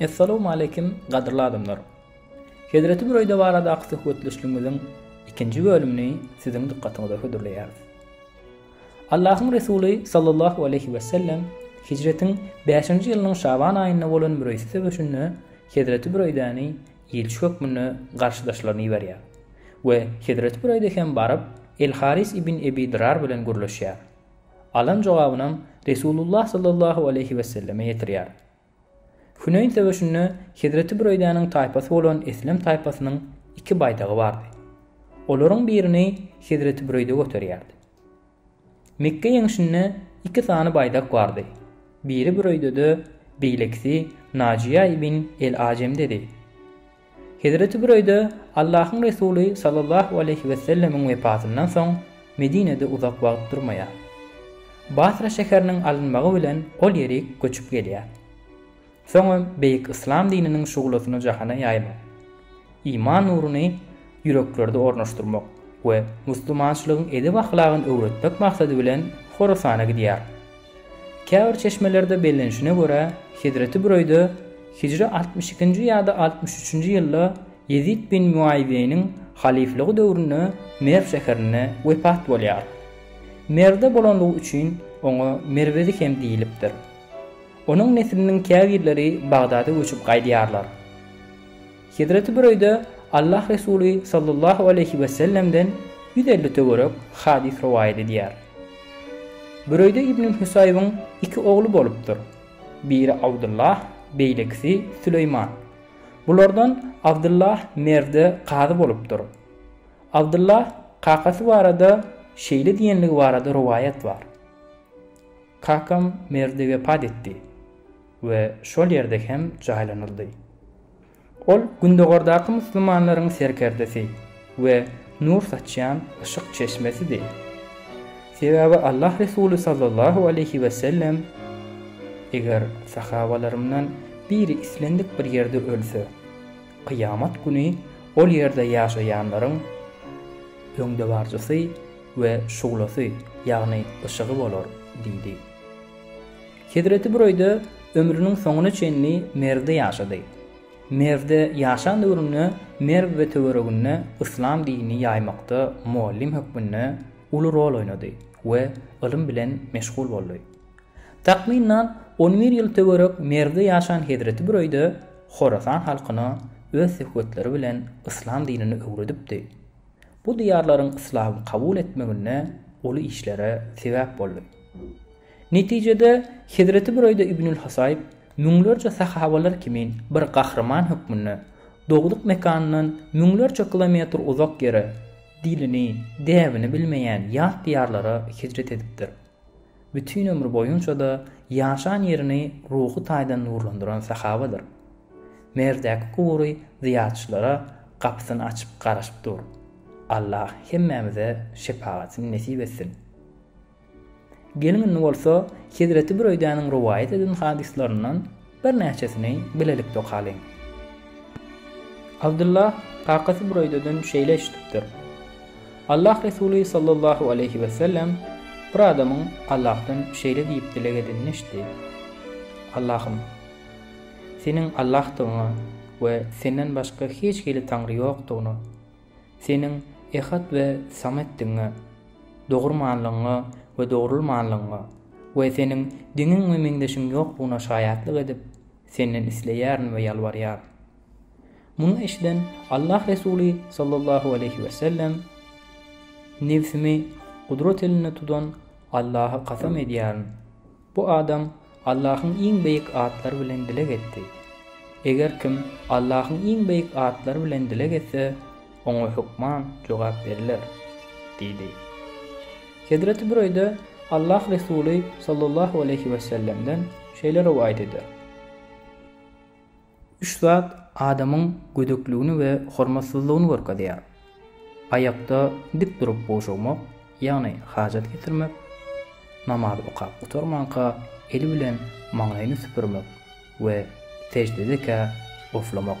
Essalowmaleýkim gadyrly adamlar! Hezreti Büreýde baradaky söhbetdeşligimiziň ikinji bölümini siziň dykgatyňyza hödürleýäris. Allahyň Resuly sallallahu aleýhi wesellem hijretiň bäşinji ýylynyň şaban aýynda bolan Müreýsi söweşinde hezreti Büreýdäni ilçi hökmünde garşydaşlaryna iberýär we hezreti Büreýde hem baryp El-Haris ibn Ebi Dyrar bilen gürleşýär. Alan jogabynam Resulullah sallallahu aleýhi weselleme ýetirýär. Hüneýn söweşinde Hezreti Büreýdäniň taýpasy bolan Eslem taýpasynyň iki baýdagy bardy. Olaryň birini Hezreti Büreýde göterýärdi. Mekge ýeňşinde iki sany baýdak bardy. Biri Büreýdede, beýlekisi Najiýa ibn el-Ajemdedi. Hezreti Büreýde, Allahyň Resuly sallallahu aleýhi wesellemiň wefatyndan soň, Medinede uzak wagt durmaýar. Basra şäheriniň alynmagy bilen ol ýerik göçüp gelýär. Soňam beýik yslam dininiň şuglasyny jahana ýaýmak, iman nuruny ýüreklerde ornaşdyrmak we musulmançylygyň edep-ahlagyny öwretmek maksady bilen Horasana gidýär. Käbir çeşmelerde bellenişine görä, Hezreti Büreýde hijri altmyş ikinji ýa-da altmyş üçünji ýylda Ýezit bin Muawiýeniň halyflygy döwründe Merw şäherinde wepat bolýar. Merwde bolanlygy üçin oňa merwezi hem diýlipdir. Onuň nesliniň käbirleri Bagdada göçüp gaýdýarlar. Hezreti Büreýde Allah Resuly sallallahu aleýhi we sellemden ýüz elli töwerek hadys rowaýat edýär. Büreýde ibn Hüsaýybyň iki ogly bolupdyr. Biri Abdullah, beýlekisi Süleýman. Bulardan Abdullah Merwde kazy bolupdyr. Abdullah kakasy barada şeýle diýenligi barada rowaýat bar, Kakam Merwde wepat etdi. we şol ýerde hem jaýlanyldy. Ol Gündogardaky musulmanlaryň serkerdesi we nur saçýan yşyk çeşmesidi. Sebäbi Allah Resuly sallallahu aleýhi we sellem, Eger sahabalarymdan biri islendik bir ýerde ölse, kyýamat güni ol ýerde ýaşaýanlaryň öňdebaryjysy we şuglasy, ýagny yşygy bolar diýdi. Hezreti Bureýde ömrüniň soňuna çenli Merwde ýaşady. Merwde ýaşan döwründe Merw we töwereginde yslam dinini ýaýmakda mugallym hökmünde uly rol oýnady we ylym bilen meşgul boldy. Takmynan on bir ýyl töwerek Merwde ýaşan Hezreti Bureýde Horasan halkyna öz söhbetleri bilen yslam dinini öwredipdi. Bu diýarlaryň yslamy kabul etmeginde uly işlere sebäp boldy. Netijede, Hezreti Büreýde ibnül Husaýb müňlerçe sahabalar kimin bir gahryman hökmünde, dogduk mekanyndan müňlerçe kilometr uzak ýere, dilini, däbini bilmeýän ýat diýarlara hijret edipdir. Bütin ömri boýunça-da ýaşan ýerini ruhy taýdan nurlandyran sahabadyr. Merdäki gubury zyýarçylara gapysyny açyp garaşyp dur. Allah hemmämize şepagatyny nesip etsin! Geliň indi bolsa Hezreti Büreýdäniň rowaýat eden hadyslaryndan birnäçesini bilelikde okalyň. Abdullah kakasy Büreýdeden şeýle eşidipdir. Allah Resuly sallallahu aleýhi wesellem bir adamyň Allahdan şeýle diýip dileg edenini eşitdi, Allahym! Seniň Allahdygyňy we Senden başga hiç hili taňry ýokdugyny, Seniň Ehat we Sametdigiňe, dogurmanlygyňa we dogrulmanlygyňa we Seniň deňiň we meňzeşiň ýoklugyna şaýatlyk edip, Senden isleýärin we ýalbarýaryn. Muny eşiden Allah Resuly sallallahu aleýhi we sellem, Nebsimi gudrat elinde tutan Allaha kasam edýärin! Bu adam Allahyň iň beýik atlary bilen dileg etdi. Eger kim Allahyň iň beýik atlary bilen dileg etse, oňa hökman jogap beriler. Diýdi. Hezreti Büreýde Allah Resuly sallallahu aleýhi wesellemden şeýle rowaýat eder. Üç zat adamyň gödekligini we hormatsyzlygyny görkezýär, aýakda dik durup gowşagmak, ýagny hajat getirmek, namaz okap gutarmanka eli bilen maňlaýyny süpürmek we seždedekä oflamak.